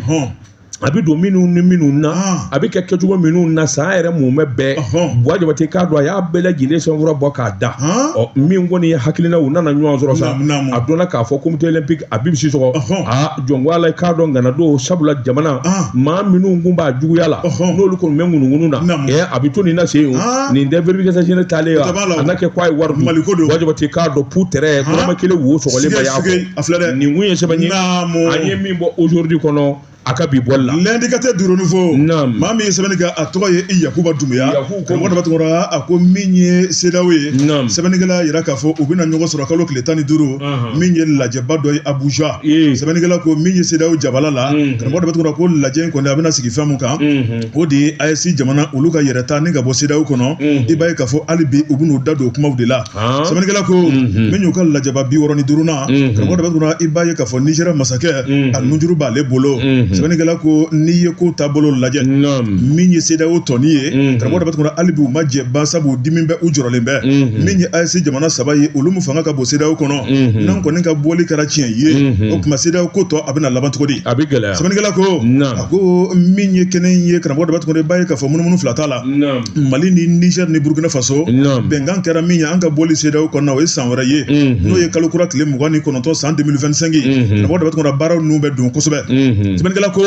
a bɛ don minnu ni minnu na a bɛ kɛ kɛcogo minnu na san yɛrɛ mumɛ bɛɛ buwa jabate k'a dɔn a y'a bɛɛ lajɛlen sɛbɛnfura bɔ k'a da ɔ min kɔni ye hakilina u nana ɲɔgɔn sɔrɔ sa a dɔnna k'a fɔ comité olympique abibu sisɔgɔ aa jɔn ko ala k'a dɔn ŋana don sabula jamana ah. maa minnu kun b'a juguya la n'olu kɔni bɛ ŋunuŋunu na ɛ a bɛ to nin na se o ah. nin tɛ vérificateur taalen wa a na kɛ k'a ye wari mali ko dun buwa jabate k'a dɔn pu tɛrɛ dɔrɔmɛ kelen wo sɔgɔlen ba y'a fɔ nin kun ye sɛbɛn ye an ye min bɔ aujourd'hui kɔnɔ a ka bi bɔli la l'indicateur du renouveau maa min ye sɛbɛnni kɛ a tɔgɔ ye yakuba dunbuya Karamɔgɔ daba tunkara a ko min ye sedaw ye sɛbɛnnikɛla y'a jira k'a fɔ u bɛna ɲɔgɔn sɔrɔ kalo tile tan ni duuru min ye lajɛba dɔ ye abuja sɛbɛnnikɛla ko min ye sedaw jabala la karamɔgɔ daba tunkara ko lajɛ in kɔni a bɛna sigi fɛn min kan o de ye AES jamana olu ka yɛrɛta ni ka bɔ sedaw kɔnɔ i b'a ye k'a fɔ hali bi u bɛn'u da don o kumaw de la sɛbɛnnikɛla ko min y'u ka lajɛba bi wɔɔrɔ ni duurunan karamɔgɔ daba tunkara i b'a ye k'a fɔ nigeria masakɛ a nunjuru b'ale bolo sɛbɛnnikɛla ko n'i ye ko taabolo lajɛ min ye sedaw tɔni ye karamɔgɔ daba tunkara hali bi u ma jɛ ban sabu dimi bɛ u jɔrɔlen bɛ min ye AES jamana saba ye olu min fanga ka bon sedaw kɔnɔ n'an kɔni ka bɔli kɛra tiɲɛ ye o tuma sedaw ko tɔ a bɛna laban cogo di a bɛ gɛlɛya sɛbɛnnikɛla ko a ko min ye kɛnɛ ye karamɔgɔ daba tunkara i b'a ye k'a fɔ munumunu fila t'a la mali ni niger ni burkina faso bɛnkan kɛra min ye an ka bɔli seedaw kɔnɔna o ye san wɛrɛ ye n'o ye kalo kura tile mugan ni kɔnɔntɔn san 2025 ye karamɔgɔ daba tunkara baaraw ninnu bɛ don kosɛbɛ sɛbɛnnikɛla ko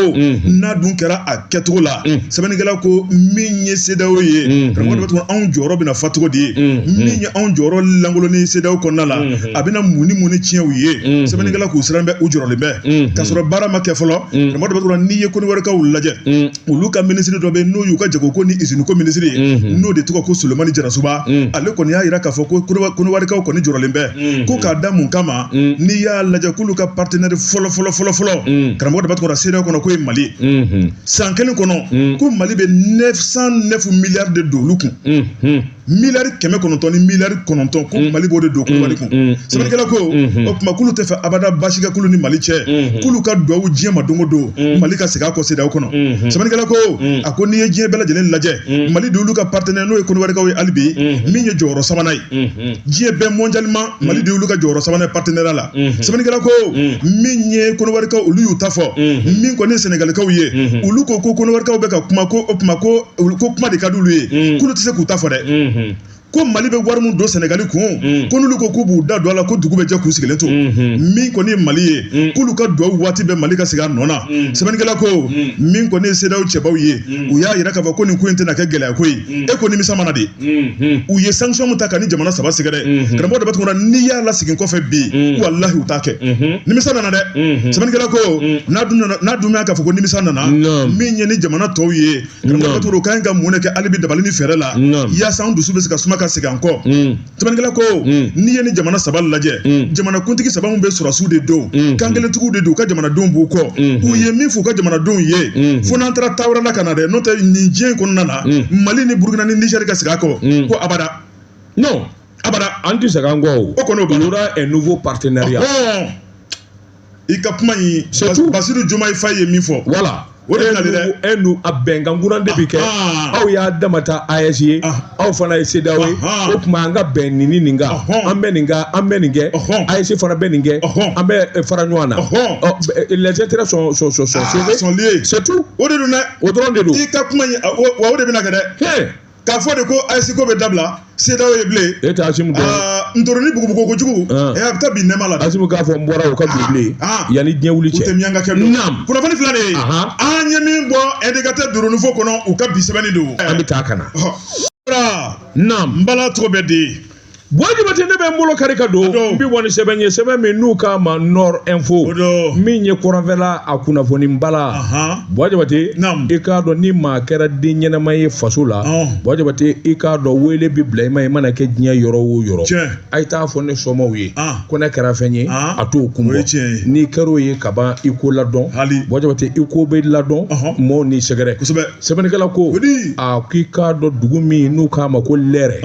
n'a dun kɛra a kɛcogo la sɛbɛnnikɛla ko min ye seedaw ye karamɔgɔ daba tunkara anw jɔyɔrɔ bɛna fa cogo di ye min ye anw jɔyɔrɔ lankoloni seedaw kɔnɔna la a bɛna mun ni mun ni tiɲɛ u ye sɛbɛnnikɛla k'u siran bɛ u jɔrɔlen bɛ k'a sɔrɔ baara ma kɛ fɔlɔ karamɔgɔ daba tunkara n'i ye konowarikaw lajɛ olu ka minisiri dɔ bɛ n'o y'u ka jago ko ni izini ko minisiri ye mhm. n'o de tɔgɔ ko solomani jarasuba mhm. ale kɔni y'a jira k'a fɔ ko konowarikaw kɔni jɔrɔlen bɛ mhm. ko k'a da mun kama n'i y'a lajɛ k'olu ka partenɛri fɔlɔ fɔlɔ fɔlɔ fɔlɔ karamɔgɔ daba tunkara sedaw kɔnɔ k'o ye mali san kelen kɔnɔ ko mali bɛ 909 miliyari de don olu kun miliyari kɛmɛ kɔnɔntɔn ni miliyari kɔnɔntɔn ko mm. mali b'o de don konowari mm, kun mm, sɛbɛnnikɛla ko mm-hmm. o tuma k'olu tɛ fɛ abada baasi ka kɛ olu ni mali cɛ mm-hmm. k'olu ka duwawu diɲɛ ma don o don mali ka segin a kɔ sedaw kɔnɔ mm-hmm. sɛbɛnnikɛla ko a ko n'i ye diɲɛ bɛɛ lajɛlen lajɛ mali de y'olu ka partenaire n'o ye konowarikaw ye hali bi min ye jɔyɔrɔ sabanan ye diɲɛ bɛɛ mondialement mali de y'olu ka jɔyɔrɔ sabanan partenaire la sɛbɛnnikɛla ko min ye konowarikaw olu y'u ta fɔ min kɔni ye sɛnɛgalikaw ye olu ko ko konowarikaw bɛ ka kuma ko o tuma ko olu ko kuma de ka d'olu ye mm. k'olu tɛ se k'u ta fɔ dɛ mm-hmm. ko mali bɛ wari min don sɛnɛgali kun mm. ko n'olu ko k'u b'u da don a la ko dugu bɛ jɛ k'u sigilen to mm-hmm. min kɔni ye mali ye mm. k'olu ka duwawu waati bɛɛ mali ka segin a nɔ na sɛbɛnnikɛla ko min kɔni ye sedaw cɛbaw ye u y'a yira k'a fɔ ko nin ko in tɛna kɛ gɛlɛya ko ye e ko nimisa mana de u ye sanction mun ta ka ni jamana saba sɛgɛrɛ dɛ karamɔgɔ daba tunkara n'i y'a lasegin kɔfɛ bi walahi u t'a kɛ nimisa nana dɛ sɛbɛnnikɛla ko n'a dun nana n'a dun y'a k'a fɔ ko nimisa nana min ye ni jamana tɔw ye karamɔgɔ daba tunkara u ka ɲi ka mun de kɛ hali bi dabali ni fɛɛrɛ la yaasa an dusu bɛ se ka suma ka segin an kɔ sɛbɛnnikɛla ko n'i ye ni jamana saba lajɛ jamana kuntigi saba min bɛ sɔrɔdasiw de don kan kelentigiw de don u ka jamanadenw b'u kɔ u ye min f'u ka jamanadenw ye fo n'an taara taa wɛrɛ la ka na dɛ n'o tɛ nin diɲɛ in kɔnɔna na mali ni burukina ni nizɛri ka segin a kɔ ko abada non abada an tɛ segin an kɔ o kɔni il y aura un nouveau partenariat i ka kuma in basiru diomaye faye ye min fɔ voilà o de nali dɛ e nu a bɛnkan kuran de bɛ kɛ aw y'a dama ta AES ye aw fana ye CEDEAO ye o tuma an ka bɛn nin ni nin kan an bɛ nin kan an bɛ nin kɛ AES fana bɛ nin kɛ an bɛ fara ɲɔgɔn na les intérêts sont sont sont sont liés c'est tout o de don dɛ o dɔrɔn de don i ka kuma in wa o de bɛna kɛ dɛ k'a fɔ de ko AES ko bɛ dabila CEDEAO ye bilen e tɛ asimi dɔn ntoroni bugubugu kojugu ɛ a bɛ taa bin nɛma la asimi k'a fɔ n bɔra o ka bin bilen yanni diɲɛ wuli cɛ o tɛ miyankakɛ don kunnafoni fila de ye an ye min bɔ indicateur du renouveau kɔnɔ u ka bi sɛbɛnni don an bɛ taa ka na naam n bala cogo bɛ di Bɔ Jabate ne bɛ n bolo kari ka don n bɛ bɔ ni sɛbɛn ye sɛbɛn min n'u k'a ma Nord Info min ye kɔrɔnfɛla a kunnafoni b'a la Bɔ Jabate i k'a dɔn ni maa kɛra den ɲɛnama ye faso la Bɔ Jabate i k'a dɔn wele bɛ bila i ma i mana kɛ diɲɛ yɔrɔ o yɔrɔ a ye t'a fɔ ne somaaw ye ko ne kɛra fɛn ye a t'o kun bɔ n'i kɛra o ye ka ban i ko ladɔn Bɔ Jabate i ko bɛ ladɔn maaw n'i sɛgɛrɛ. sɛbɛnnikɛla ko a k'i k'a dɔn dugu min n'u k'a ma ko lɛrɛ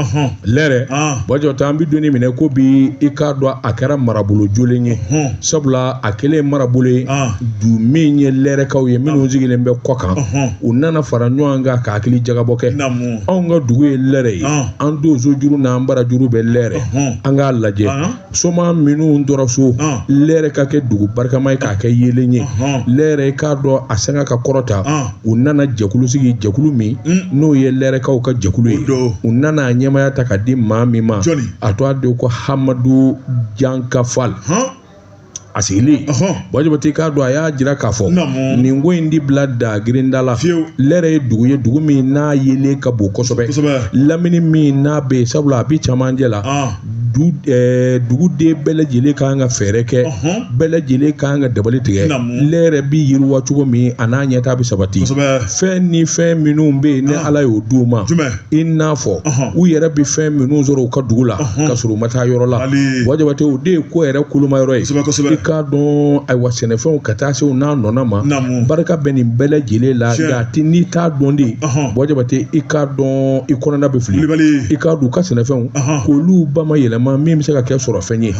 lɛrɛ bɔ jabate an bɛ don min n'i ko bi i k'a dɔn a kɛra marabolo jolen ye sabula a kɛlen marabolo ye du min ye lɛrɛkaw ye minnu sigilen bɛ kɔkan u nana fara ɲɔgɔn kan ka hakili jagabɔ kɛ anw ka dugu ye lɛrɛ ye an tonsojuru n'an barajuru bɛ lɛrɛ an k'a lajɛ somaa minnu tora so lɛrɛ ka kɛ dugu barikama ye k'a kɛ yeelen ye lɛrɛ i k'a dɔn a sanga ka kɔrɔta u nana jɛkulu sigi jɛkulu min mm. n'o ye lɛrɛkaw ka jɛkulu ye u nana a ɲɛmaya ta ka di maa min ma a tɔgɔ de ko hamadu jankafal a sigilen bɔ jabate k'a dɔn a y'a jira k'a fɔ nin ko in di bila da grinda la lɛrɛ ye dugu ye dugu min n'a yeelen ka bon kosɛbɛ lamini min n'a bɛ yen sabula a bɛ camancɛ la duguden bɛɛ lajɛlen ka kan ka fɛɛrɛ kɛ bɛɛ lajɛlen ka kan ka dabali tigɛ lɛrɛ bɛ yiriwa cogo min a n'a ɲɛtaa bɛ sabati fɛn ni fɛn minnu bɛ yen ni ala y'o di u ma i n'a fɔ u yɛrɛ bɛ fɛn minnu sɔrɔ u ka dugu la ka sɔrɔ u ma taa yɔrɔ la buwa jabate o de ye ko yɛrɛ kolomayɔrɔ ye i k'a dɔn ayiwa sɛnɛfɛnw ka taa se u n'a nɔna ma barika bɛ nin bɛɛ lajɛlen la nka ti n'i t'a dɔn de buwa jabate i k'a dɔn i kɔnɔna bɛ fili i k'a dɔn u ka sɛnɛfɛnw k'olu ba ma yɛlɛma min bɛ se ka kɛ sɔrɔfɛn ye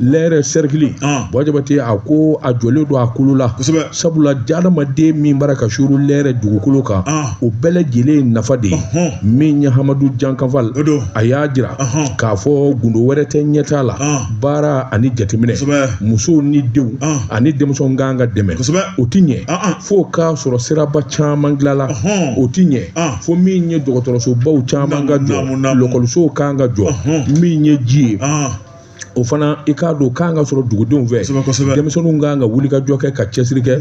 lɛrɛ sɛrikili buwa jabate a ko a jɔlen don a kolo la sabula adamaden min bara ka suru lɛrɛ dugukolo kan ah. o bɛɛ lajɛlen ye nafa de ye min ye hamadu jankanfal a y'a jira k'a fɔ gundo wɛrɛ tɛ ɲɛtaa la ah. baara ani jateminɛ musow ni denw ah. ani denmisɛnw kan ka dɛmɛ o tɛ ɲɛ fo k'a sɔrɔ siraba caman dilala o tɛ ɲɛ fo min ye dɔgɔtɔrɔsobaw caman ka jɔ lɔkɔlisow kan ka jɔ min ye ji ye o fana i k'a dɔn kan ka sɔrɔ dugudenw fɛ denmisɛnninw kan ka wulikajɔ kɛ ka cɛsiri kɛ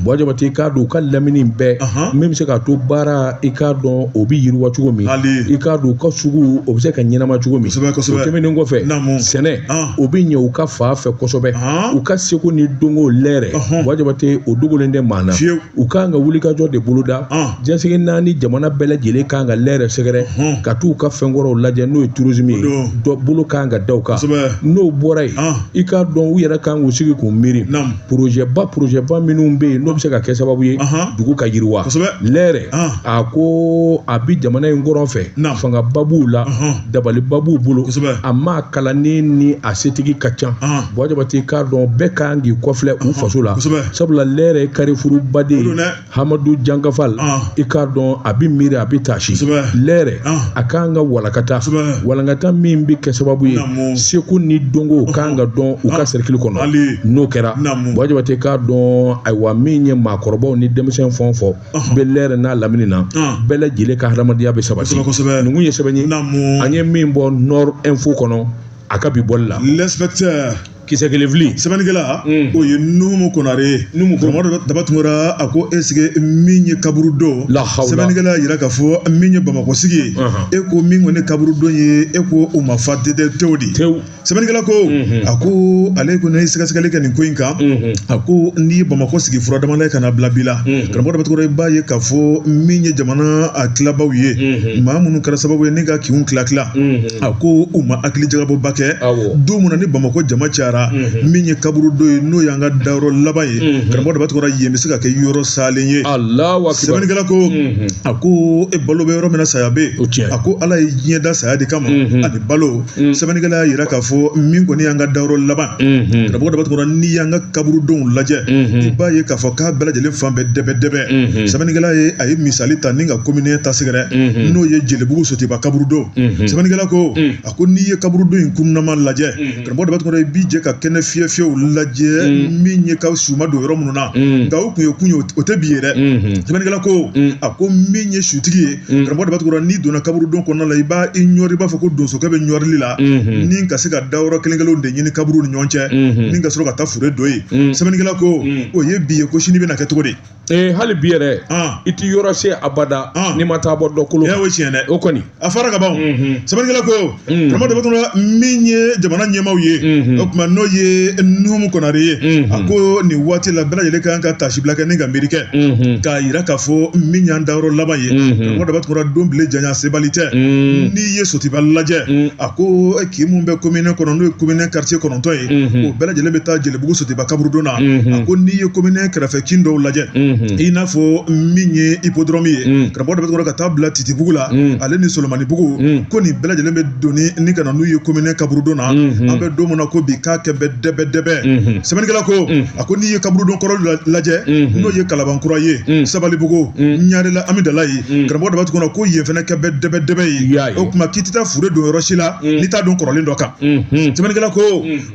buwa jabate i k'a dɔn u ka lamini bɛɛ min bɛ se k'a to baara i k'a dɔn o bɛ yiriwa cogo min i k'a dɔn u ka sugu o bɛ se ka ɲɛnama cogo min o tɛmɛnen kɔfɛ sɛnɛ o bɛ ɲɛ u ka fan fɛ kosɛbɛ u ka seko ni dɔnko lɛrɛ buwa jabate o dogolen tɛ maa na u kan ka wulikajɔ de boloda diɲɛ seleke naani jamana bɛɛ lajɛlen kan ka lɛrɛ sɛgɛrɛ ka t'u ka fɛnkɔrɔw lajɛ n'o ye tourisme ye dɔ bolo kan ka da u kan n'o bɔra yen i k'a dɔn u yɛrɛ kan k'u sigi k'u miiri porozɛba porozɛba minnu bɛ yen n'o bɛ se ka kɛ sababu ye dugu ka yiriwa lɛrɛ a ko a bɛ jamana in kɔrɔn fɛ fangaba b'u la dabaliba b'u bolo a maa kalannen ni a setigi ka ca buwa jabate i k'a dɔn bɛɛ kan k'i kɔfilɛ u faso la sabula lɛrɛ ye karifuruba de ye hamadu jankafal ah. i k'a dɔn a bɛ miiri a bɛ taasi lɛrɛ ah. a kan ka walakata walankata min bɛ kɛ sababu ye seko ni dɔnko kan ka don u ka ah. sɛrikili kɔnɔ n'o kɛra buwa jabate i k'a dɔn ayiwa min ye maakɔrɔbaw ni denmisɛn fɛn o fɛn bɛ lɛrɛ n'a lamini na bɛɛ lajɛlen ka hadamadenya bɛ sabati ninnu ye sɛbɛn ye an ye min bɔ nord info kɔnɔ a ka bi bɔli la kisɛ kelen fili sɛbɛnnikɛla o ye numu konare ye numu karamɔgɔ daba tunkara a ko est-ce que min ye kaburudo sɛbɛnnikɛla yira k'a fɔ min ye bamakɔ sigi ye e ko min kɔni kaburudo ye e ko o ma fa dede tew de tew sɛbɛnnikɛla ko a ko ale ko ne ye sɛgɛsɛgɛli kɛ nin ko in kan a ko n'i ye bamakɔ sigi fura damada ye ka na bila bi la karamɔgɔ daba tunkara i b'a ye k'a fɔ min ye jamana a tilabaw ye maa minnu kɛra sababu ye ni ka kinw tila tila a ko u ma hakili jagabɔba kɛ don min na ni bamakɔ jama cayara min ye kaburudon ye n'o y'an ka dayɔrɔ laban ye karamɔgɔ daba tunkara yen bɛ se ka kɛ yɔrɔ salen ye sɛbɛnnikɛla ko a ko e balo bɛ yɔrɔ min na saya bɛ yen a ko ala ye diɲɛ da saya de kama ani balo sɛbɛnnikɛla y'a yira k'a fɔ min kɔni y'an ka dayɔrɔ laban karamɔgɔ daba tunkara n'i y'an ka kaburudonw lajɛ i b'a ye k'a fɔ k'a bɛɛ lajɛlen falen bɛ dɛbɛ dɛbɛ sɛbɛnnikɛla ye a ye misali ta ni ka komini ta sɛgɛrɛ n'o ye jelibugu sotiba kaburudon sɛbɛnnikɛla ko a ko n'i ye kaburudon in kunnama lajɛ karamɔgɔ daba tunkara i b'i jɛ ka kɛnɛ fiyɛ fiyɛw lajɛ min ye ka su ma don yɔrɔ minnu na nka o tun ye kunun ye o tɛ bi ye dɛ sɛbɛnnikɛla ko a ko min ye sutigi ye karamɔgɔ daba tunkara n'i donna kaburudon kɔnɔna la i b'i ɲɔri i b'a fɔ ko donsokɛ bɛ ɲɔrili la ni ka se ka dayɔrɔ kelen kelenw de ɲini kaburu ni ɲɔgɔn cɛ ni ka sɔrɔ ka taa fure don yen sɛbɛnnikɛla ko o ye bi ye ko sini bɛna kɛ cogo di ee hali bi yɛrɛ i tɛ yɔrɔ se abada n'i ma taa bɔ dɔ kolo o ye tiɲɛ dɛ o kɔni a fɔra ka ban sɛbɛnnikɛla ko karamɔgɔ daba tunkara min ye jamana ɲɛmaaw ye o tuma n'o ye nuhumu konare ye a ko nin waati la bɛɛ lajɛlen kan ka tasibila kɛ ni ka miiri kɛ k'a yira k'a fɔ min y'an dayɔrɔ laban ye karamɔgɔ daba tunkara don bile janya sebali tɛ n'i ye sotiba lajɛ a ko kin min bɛ komini kɔnɔ n'o ye komini karitiye kɔnɔntɔn ye o bɛɛ lajɛlen bɛ taa jeli bugu sotiba kaburudon na a ko n'i ye komini kɛrɛfɛ kin dɔw lajɛ i n'a fɔ min ye ipodɔrɔmu ye karamɔgɔ daba tunkara ka taa bila titibugu la ale ni solomanibugu ko nin bɛɛ lajɛlen bɛ doni ni ka na n'u ye komini kaburudon na an bɛ don min na ko bi k'a kɛ bɛ dɛbɛ dɛbɛ sɛbɛnnikɛla ko a ko n'i ye kaburudon kɔrɔ lajɛ n'o ye kalabankura ye sabalibugu ɲarela amidalayi karamɔgɔ daba tunkara ko yen fana kɛ bɛ dɛbɛ dɛbɛ ye o tuma k'i tɛ taa fure don yɔrɔ si la n'i t'a don kɔrɔlen dɔ kan sɛbɛnnikɛla ko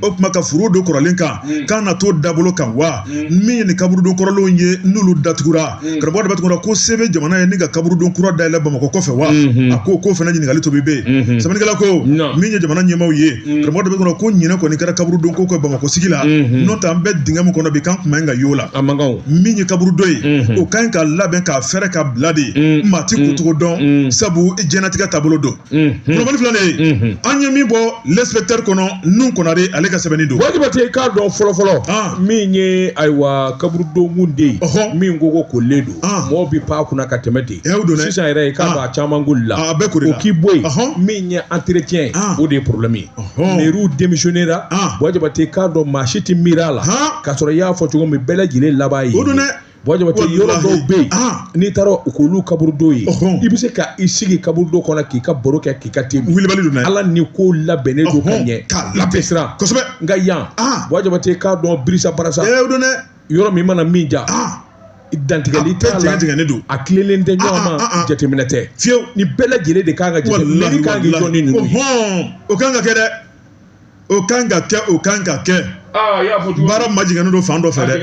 o tuma ka fure don kɔrɔlen kan mm. k'an na t'o dabolo kan wa mm. min ye nin kaburudon kɔrɔlenw ye n'olu datugura mm. karamɔgɔ daba tunkara ko se bɛ jamana ye ni ka kaburudon kura dayɛlɛ bamakɔ kɔfɛ wa mm-hmm. a ko k'o fana ɲininkali tomi bɛ yen mm-hmm. sɛbɛnnikɛla ko min ye jamana ɲɛmaaw ye karamɔgɔ daba tunkara ko ɲinɛ kɔni kɛra kaburudon ko kɔ bamakɔ sigi la mm-hmm. n'o tɛ an bɛ dingɛ min kɔnɔ bi k'an kun man ɲi ka y'o la min ye kaburudon ye o ka ɲi ka labɛn k'a fɛrɛ ka bila dɛ maa ti kutugu dɔn sabu jɛnnatigɛ taabolo don kulubali filɛ ye an ye min bɔ lɛsipɛtɛri kɔnɔ nuhumu konare ale ka sɛbɛnni don buwa jabate k'a dɔn fɔlɔfɔlɔ min ye ayiwa kaburudon den yen min kogo koolilen don mɔgɔw bɛ pan kunna ka tɛmɛ ten sisan yɛrɛ k'a dɔn a caman koolila a bɛ ko k'i bɔ yen min ye antiretiyɛn o de ye porobilɛmi ye mɛriw demisiyɔnera buwa jabate k'a dɔn maa si tɛ miiri a la ka sɔrɔ i y'a fɔ cogo min bɛɛ lajɛlen laban ye o don dɛ buwa jabate yɔrɔ dɔw bɛ yen ah. n'i taara u k'olu kaburudo ye i bɛ se ka i sigi kaburudo kɔnɔ k'i ka baro kɛ k'i ka te wulibali don ala ni ko labɛnnen don ka ɲɛ k'a labɛn siran kosɛbɛ nka yan ah. buwa jabate k'a dɔn birisa barasa yɔrɔ min mana min diya ah. dantigɛli t'a la tigɛlen don a tilelen tɛ ɲɔgɔn ma jateminɛ tɛ fiyewu nin bɛɛ lajɛlen de kan ka jateminɛ kan k'i jɔ ni ninnu ye o kan ka kɛ dɛ o kan ka kɛ o kan ka kɛ baara ma jɛngɛnnen don fan dɔ fɛ dɛ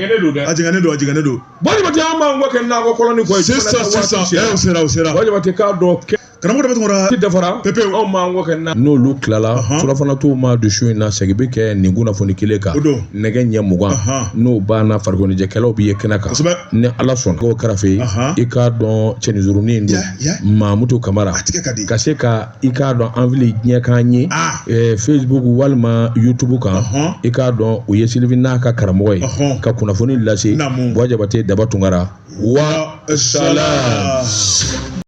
a jɛngɛnnen don a jɛngɛnnen don buwa jabate an b'an kɛ nakɔ kɔlɔn kɔ sisan sisan sera sera sera buwa jabate k'a dɔn kɛ karamɔgɔ daba tungara dafara pepe anw b'an kɔ kɛ na n'olu tilala surafana duman dun su in na segin bɛ kɛ nin kunnafoni kelen kan nɛgɛ ɲɛ mugan n'o banna farikoloɲɛnajɛkɛlaw bɛ ye kɛnɛ kan ni ala sɔnna k'o kɛrɛfɛ i k'a dɔn cɛnin surunnin don mamutu kamara ka se ka i k'a dɔn an fili diɲɛ kan yen ah. eh, facebook walima youtube kan i k'a dɔn o ye silivi n'a ka karamɔgɔ ye ka kunnafoni lase buwa jabate daba tungara wa salam